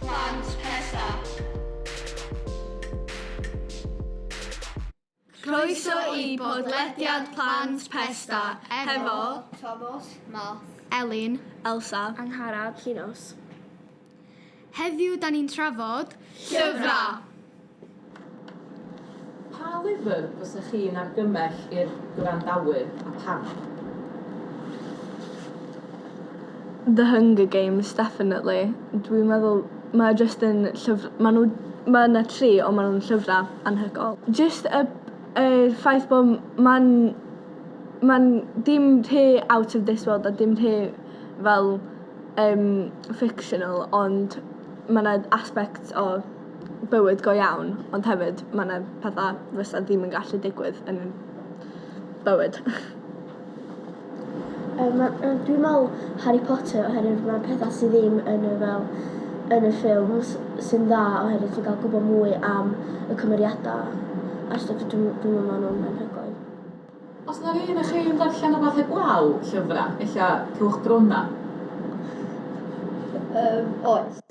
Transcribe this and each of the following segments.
Plant Pesa. Croeso i bodlediad Plant Pesta hefo Tomos, Math, Elin, Elsa, Angharad, Llinos. Heddiw da ni'n trafod llyfrau! Pa lyfr fysech chi'n argymell i'r gwrandawyr, a pam? The Hunger Games definitely. Dwi'n meddwl mae o jyst yn llyf- ma' nhw ma' 'na tri ond ma' nhw'n llyfra' anhygoel. Jyst y y ffaith bo' m- ma'n ma'n dim rhy out of this world a dim rhy fel yym fictional ond ma' 'na aspects o bywyd go iawn, ond hefyd mae 'na pethau fysa ddim yn gallu digwydd yn bywyd. Um, ma, uh, dwi'n meddwl Harry Potter oherwydd mae pethau sydd ddim yn y fel yn y ffilms sy'n dda oherwydd ti'n cael gwybod mwy am y cymeriadau a stwff dwi'n dwi meddwl maen nhw'n anhygoel. Os yna rhywun o chi yn darllen o fath eblaw llyfrau, ella cewch brona? Um, oes.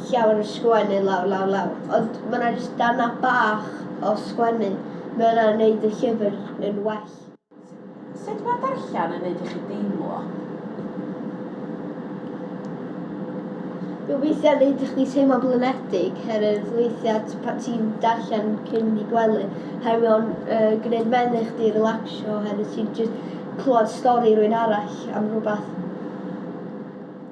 llawer o sgwennu lawr lawr lawr ond ma' 'na jyst darna bach o sgwennu ma' yna'n neud y llyfr yn well. Sut ma' darllen yn neud i chi deimlo? Mae weithia'n neud i chdi teimlo'n blinedig herwydd weithiau t- pan ti'n darllen cyn mynd i gwely herwydd mae o'n yy gwneud menyw chdi relaxio oherwydd ti'n jyst clywed stori rywun arall am rywbeth.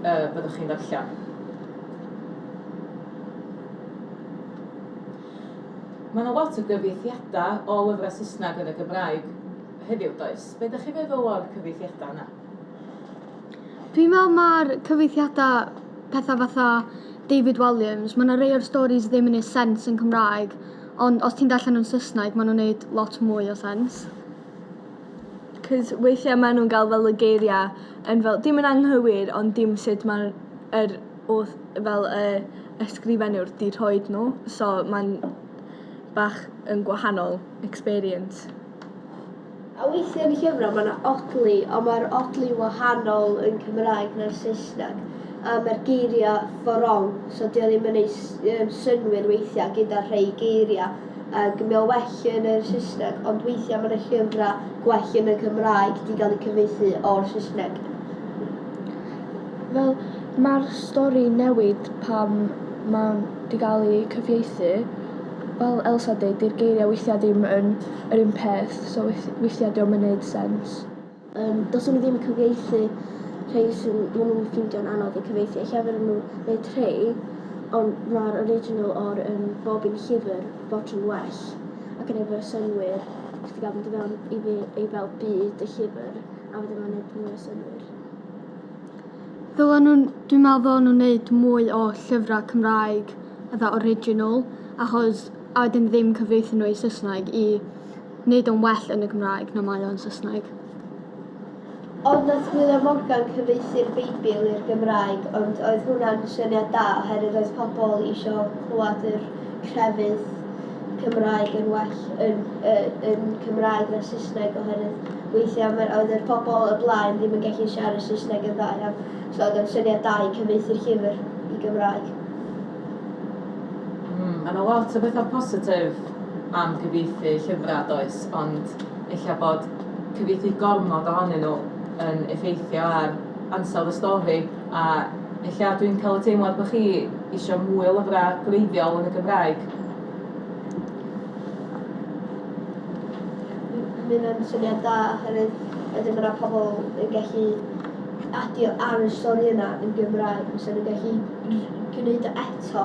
y byddwch chi'n ddarllen. Mae yna lot o gyfieithiadau o lyfrau Saesneg yn y Gymraeg heddiw, does? Be ydych chi'n feddwl o'r cyfieithiadau yna? Dwi'n meddwl mae'r cyfieithiadau pethau fatha David Walliams, mae yna rei o'r stories ddim yn ei sens yn Cymraeg, ond os ti'n darllen nhw'n Saesneg, maen nhw'n gwneud lot mwy o sens. 'c'os weithia' ma' nw'n ga'l fel y geiria' yn fel dim yn anghywir ond dim sut ma'r yr oll fel y ysgrifennuwr 'di rhoid n'w so ma'n bach yn gwahanol experience. A weithia' yn y llyfra' ma' 'na odli on' ma'r odli'n wahanol yn Cymraeg na'r Saesneg a ma'r geiria' for wrong so 'di o ddim yn neu' s- yym synnwyr weithia' gyda rhei geiria'. Ac mae o well yn yr Saesneg, ond weithiau mae 'na llyfrau gwell yn y Cymraeg 'di gael eu cyfieithu o'r Saesneg. Fel mae'r stori newid pan mae 'di gael ei cyfieithu. Fel Elsa deud 'di'r geiriau weithiau ddim yn yr un peth, so weithiau 'di o'm yn neud sens. Yym, dylswn i ddim cyfieithu rhei sy'n maen nhw'n ffindio'n anodd eu cyfieithu. Ella fydden nhw wneud rhei, ond mae'r original o'r um, bob un llyfr fod yn well, ac yn efo synwyr, chdi gael mynd i fewn i fi ei fel byd y llyfr, a fydden nhw'n gwneud mwy o synwyr. Ddylen nhw'n, dwi'n meddwl ddylen nhw'n wneud mwy o llyfrau Cymraeg, fatha original, achos a wedyn ddim cyfieithu nhw i Saesneg i Nid o'n well yn y Gymraeg na mae o yn Saesneg. Ond nath William Morgan cyfieithu'r Beibl i'r Gymraeg, ond oedd hwnna'n syniad da oherwydd oedd pobl isio clywed yr crefydd Cymraeg yn well yn, yy, yn Cymraeg na Saesneg oherwydd weithiau mae'r, oedd yr pobl y blaen ddim yn gallu siarad Saesneg yn dda iawn, so oedd o'n syniad da i cyfieithu'r llyfr i Gymraeg. Mm, mae 'na lot o bethau positif. am gyfieithu llyfrau, does, ond ella bod cyfieithu gormod ohonyn nhw yn effeithio ar ansawdd y stori, a ella dwi'n cael y teimlad bod chi eisiau mwy o lyfrau gwreiddiol yn y Gymraeg. Mae hynna'n syniad da, oherwydd wedyn mae yna pobl yn gallu adio ar y stori yna yn Gymraeg, fysa nhw'n gallu gwneud o eto.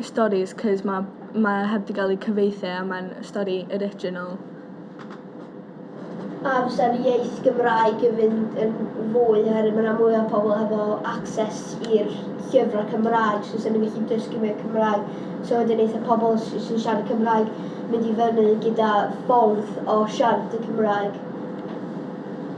y storis 'c'os ma' ma' e heb 'di ga'l ei cyfieithu a mae'n stori original. A fysa'r iaith Gymraeg yn fynd yn fwy oherwydd ma' 'na mwy o pobl hefo access i'r llyfrau Cymraeg so 'sen nhw'n gallu dysgu mwy o Cymraeg so wedyn neith y pobl sy sy'n siarad Cymraeg mynd i fyny gyda ffordd o siarad y Cymraeg.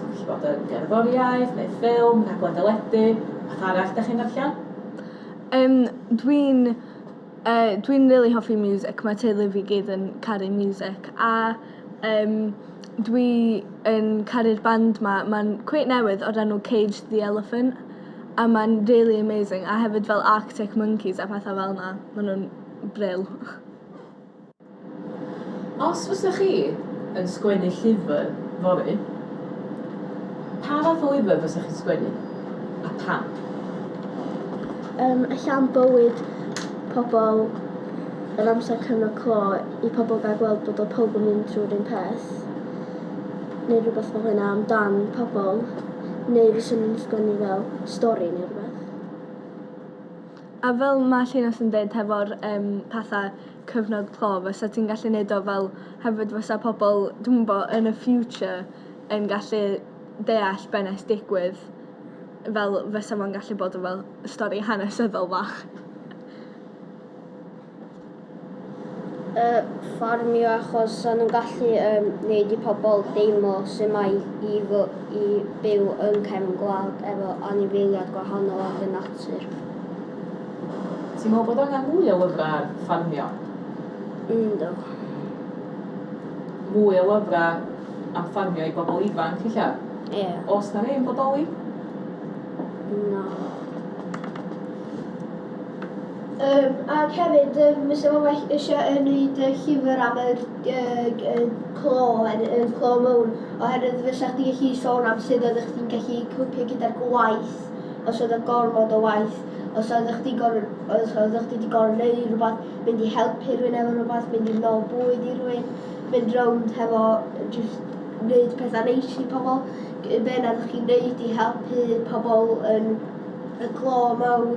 Gallu bod yn gerddoriaeth neu ffilm, rhaglen deledu, beth arall dych chi'n ddarllen? Um, dwi'n uh, dwi'n really hoffi music, mae teulu fi gyd yn caru music a um, dwi yn caru'r band ma, mae'n cweit newydd o'r enw Cage the Elephant a mae'n really amazing a hefyd fel Arctic Monkeys a pethau fel yna, maen nhw'n brill. Os fysa chi yn sgwennu llyfr fory, pa fath o lyfr fysa chi'n sgwennu, a pam? Yym ella am bywyd pobl yr amser cyfnod clo i pobl gael gweld bod o pawb yn mynd trwy'r un peth neu rhywbeth fel hynna am dan pobl neu fyswn i'n sgwennu fel stori neu rhywbeth. A fel ma' Llinas yn deud hefo'r yym pethe cyfnod clo fysa ti'n gallu neud o fel hefyd fysa pobol dwi'm yn bo yn y future yn gallu deall be' nes digwydd fel fysa fo'n gallu bod yn fel stori hanesyddol fach. Yy ffarmio achos sa nhw'n gallu yym neud i pobol deimlo su' mae i fy- i byw yn cefn gwlad efo anifeiliad gwahanol ac yn natur. Ti'n meddwl bod angen mwy o lyfrau ar ffarmio? Yndw. Mwy o lyfrau am ffarmio i bobl ifanc, ella? Ie. Os na ddim bodoli? Na. Um, ac hefyd, um, fysa fo well eisiau yn wneud y llyfr am y, y, y clo, y clo mowr, oherwydd fysa chdi gallu sôn am sydd oeddech chdi'n gallu cwpio gyda'r gwaith, os oedd y gormod o waith, Os oeddech chdi gorfod, os oeddech chdi 'di gorfod neud rhywbeth, mynd i helpu rhywun efo rhywbeth, mynd i nol bwyd i rhywun, mynd rownd hefo jyst neud petha neis i pobol, g- be' na 'ddach chi'n neud i helpu pobol yn y clo mawr,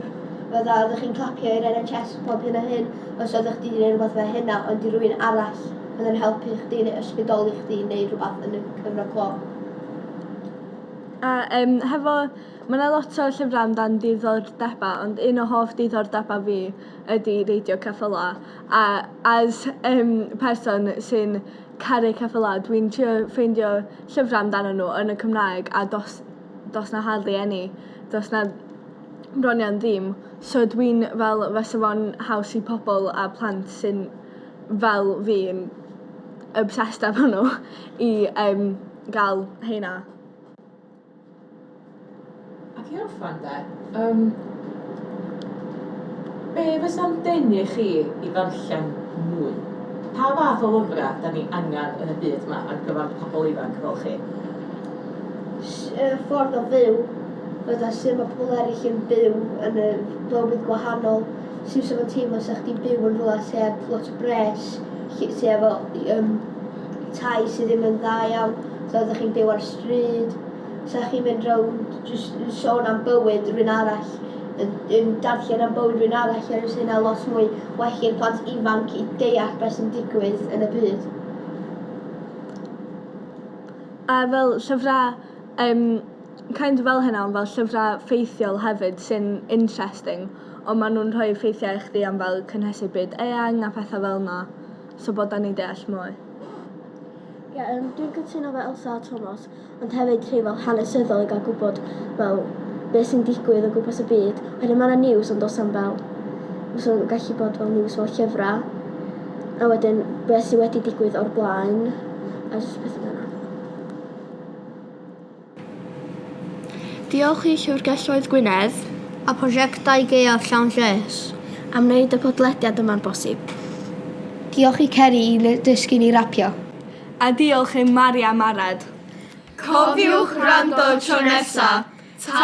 fydda oeddech chi'n clapio i'r NHS a pob hyn a hyn, os oeddech chdi 'di neud rhywbeth fel hynna ond i rywun arall oedd yn helpu chdi neu ysbrydoli chdi i neud rhywbeth yn y cyfnod clo. A yym hefo Mae 'na lot o llyfrau amdan diddordebau ond un o hoff diddordebau fi ydy reidio ceffylau a as yym person sy'n caru ceffylau dwi'n trio ffeindio llyfrau amdanyn nhw yn y Cymraeg a do's do's 'na hardly any do's 'na bron iawn ddim so dwi'n fel fysa fo'n haws i pobl a plant sy'n fel fi yn obsessed efo nhw i yym ga'l rheina. Ac i orffen de, yym, be fysa'n denu chi i ddarllen mwy? Pa fath o lyfrau 'da ni angen yn y byd 'ma ar gyfer pobl ifanc fel chi? Y ffordd o fyw, fatha sut mae pobl eraill yn byw yn y bywyd gwahanol, sut fysa fo'n teimlo 'sa chdi'n byw yn rhywle sy heb lot o bres, lle sy efo yym tai sydd ddim yn dda iawn, so ydych chi'n byw ar y stryd, so chi'n mynd rownd jyst yn sôn am bywyd rhywun arall, yn darllen am bywyd rhywun arall, er ys hynna lot mwy well i'r plant ifanc i deall beth sy'n digwydd yn y byd. A fel llyfrau um, kind of fel hynna, ond fel llyfrau ffeithiol hefyd sy'n interesting, ond maen nhw'n rhoi ffeithiau i chdi am fel cynhesu byd eang a phethau fel yna. So bod da ni'n deall mwy. Ie, um, dwi'n cytuno fe Elsa a Thomas, ond hefyd rhy fel hanesyddol i gael gwybod fel beth sy'n digwydd o gwmpas y byd, oherwydd mae yna news ond does am fel, fysa'n gallu bod fel news fel llyfrau, a wedyn beth sydd wedi digwydd o'r blaen, a jyst pethau fel yna. Diolch i Llyfrgelloedd Gwynedd a Phrosiectau Gaeaf Llawn Lles am wneud y podlediad yma'n bosib. Diolch i Ceri i ddysgu ni rapio. A diolch i Mari am Arad. Cofiwch wrando tro nesa! Ta!